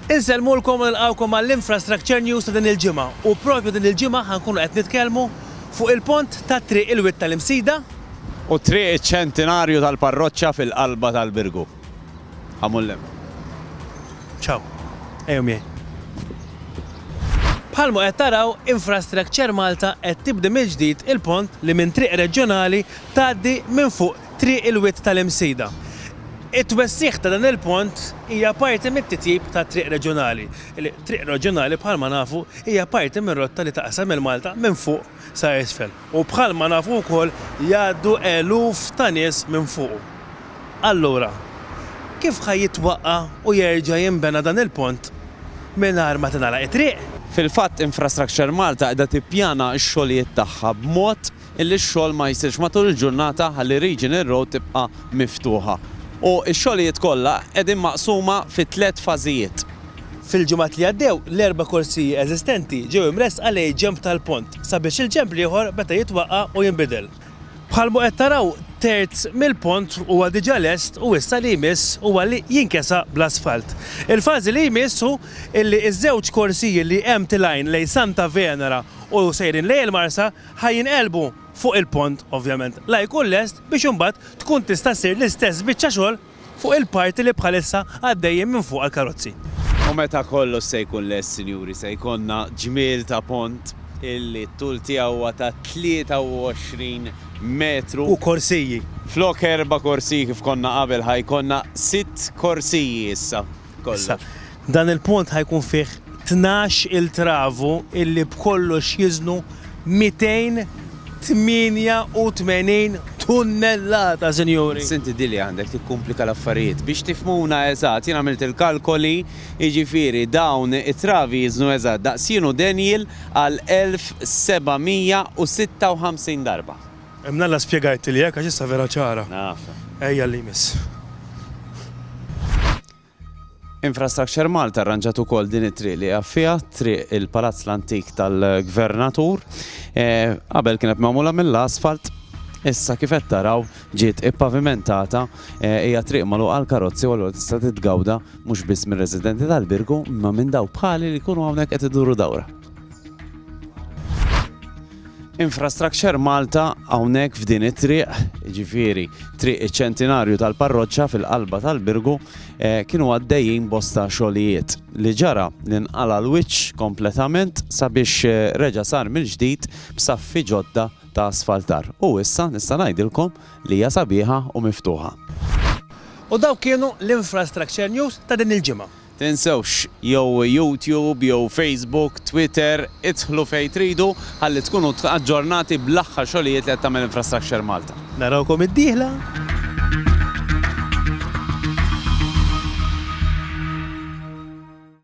Insellmulkom u nilqawkom għall-Infrastructure News ta' din il-ġimgħa u propju din il-ġimgħa ħankunu qed nitkellmu fuq il-pont tat-triq il-wied tal-Imsida u triq iċ-Ċentinarju tal-Parroċċa fil-qalba tal-Birgu. Ħamul lem. Ciao. Ejjew miegħi. Bħalma qed taraw, Infrastructure Malta qed tibdi mill-ġdid il-pont li minn triq reġjonali tgħaddi minn fuq Triq il-Wied tal-Imsida. It-twessigħ ta' dan il-pont hija parti mit-titjib tat-triq reġjonali. Triq reġjonali bħalma nafu hija parti mir-rotta li taqsam lil Malta minn fuq sa isfel u bħalma nafu wkoll jgħaddu eluf ta' nies minn fuqu. Allura, kif ħa jitwaqqa' u jerġa' jinbena dan il-pont mingħajr ma tingħalaq it-triq? Fil-fatt Infrastructure Malta qiegħda tippjana x-xogħlijiet tagħha b'mod li x-xogħol ma jsirx matul il-ġurnata ħalli Regional Road tibqa' miftuħa. U x-xogħlijiet kollha qegħdin maqsuma fi tliet fażijiet. Fil-ġimgħat li għaddew, l-erba' korsiji eżistenti ġew imressqa lejn ġenb tal-pont sabiex il-ġenb l-ieħor beda jitwaqqa' u jinbidel. Bħalma qed taraw, terz mill-pont huwa diġà lest u issa li jmiss huwa li jinkesa' bl-asfalt. Il-fażi li jmiss hu li ż-żewġ korsiji li hemm tilgħin lejn Santa Venera u sejrin lejn il-Marsa ħa jinqelbu fuq il-pont, ovvjament, la jkun lest biex imbagħad tkun tista' ssir l-istess biċċa xogħol fuq il-parti li bħalissa għaddejjin minn fuqha l-karozzi. U meta kollox se jkun lest, sinjuri, se jkollna ġmiel ta' pont illi t-tul tiegħu huwa ta' 23 metru. U korsiji. Flok erba' korsiji kif konna qabel, ħa jkollna sitt korsiji issa. Issa, dan il-pont ħa jkun fih tnax il travu illi b'kollox jiżnu 288 tunnellata, sinjuri! Senti di li għandek tikkumplika l-affarijiet. Biex tifhmuna eżatt, jien għamilt il-kalkoli, jiġifieri dawn it-travi jiżnu eżatt daqs jien u Daniel għal 1,756 darba. Hemm l-Alla spjegajtli hekk għax issa vera ċara. Ejja għal li jmiss. Infrastructure Malta rranġat ukoll din it-triq li għaffija, triq il-Palazz l-Antik tal-Gvernatur. Eh, qabel kienet magħmula mill-asfalt, Issa kif qed taraw ġiet ippavimentata eh, hija triq magħluq għal karozzi u allura tista' titgawda mhux biss mir-residenti tal-Birgu imma minn daw bħali li jkunu hawnhekk qed iduru dawra. Infrastructure Malta hawnhekk f'din it-triq, ġifieri triq iċ-ċentinarju tal-parroċċa fil-qalba tal-Birgu, eh, kienu għaddejjin bosta xogħlijiet li ġara li nqala l-wiċċ kompletament sabiex eh, reġa' sar mill-ġdid b'saffi ġodda ta' asfaltar. U issa nista' ngħidilkom li hija sabiħa u miftuħa. U dawk kienu l-Infrastructure News ta' din il-ġimgħa. Tinsewx, jew YouTube, jew Facebook, Twitter, idħlu fejn tridu ħalli tkunu aġġornati bl-aħħar xogħlijiet li qed tagħmel Infrastructure Malta. Narawkom id-dieħla!